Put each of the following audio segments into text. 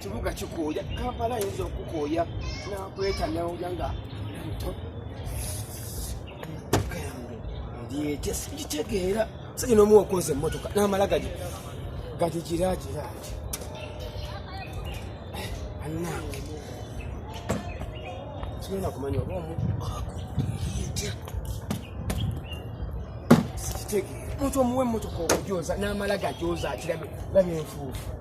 kibuga kikooya kampala ayinza okukooya nakweta nawulira nga muto ndietya sikitegeera saki nomu okoza emotoka namala gadi gadi giragiragi anange sigenda kumanya oba omu akuetya sikitegeera omuntu omuwa emotoka okujoza namala gajoza akirabe labi enfuufu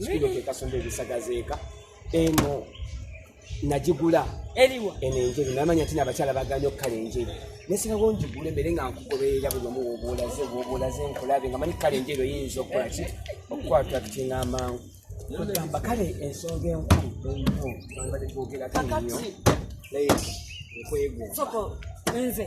sikino kekasomba ebisagazeeka eno nagigula eriwa eno enjeru namanya nti nabakyala baganya okukala enjeru nesirawo ngigule mbere nga nkugoberera buli omu wobulaze wobulaze nkulabe nga manyi kukala enjeru eyinza okukola ki okukwata kutinga amangu kugamba kale ensonga enkulu enkulu nbade twogerako nyo naye ekwegwa nze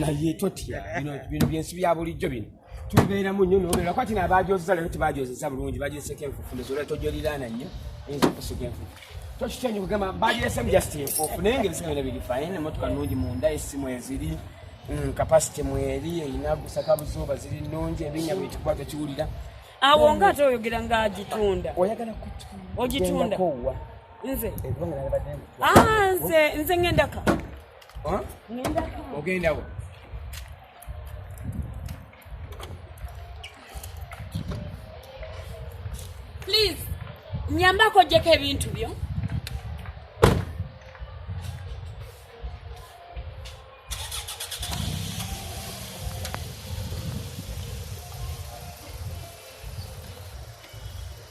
naye totya bino byensi bya bulijjo bino tubeeramu nnyo nobeera kwati nabajoozeza leero tibajoozeza bulungi bajeeseko enfufu nezoola tojoliraana nnyo eyinza okusiga enfufu tokitya nyo kugamba bajeesemu just enfufu naye nga ebisinga bina biri fine emotoka nungi munda esimu eziri mm, kapasite mweri erina gusaka buzuuba ziri nungi ebinya bwitikuba tokiwulira awo nga ate oyogera nga agitunda oyagala ogitunda nze ah, nze nze ngendaka ogenda wa please nyambako ojjeko ebintu byo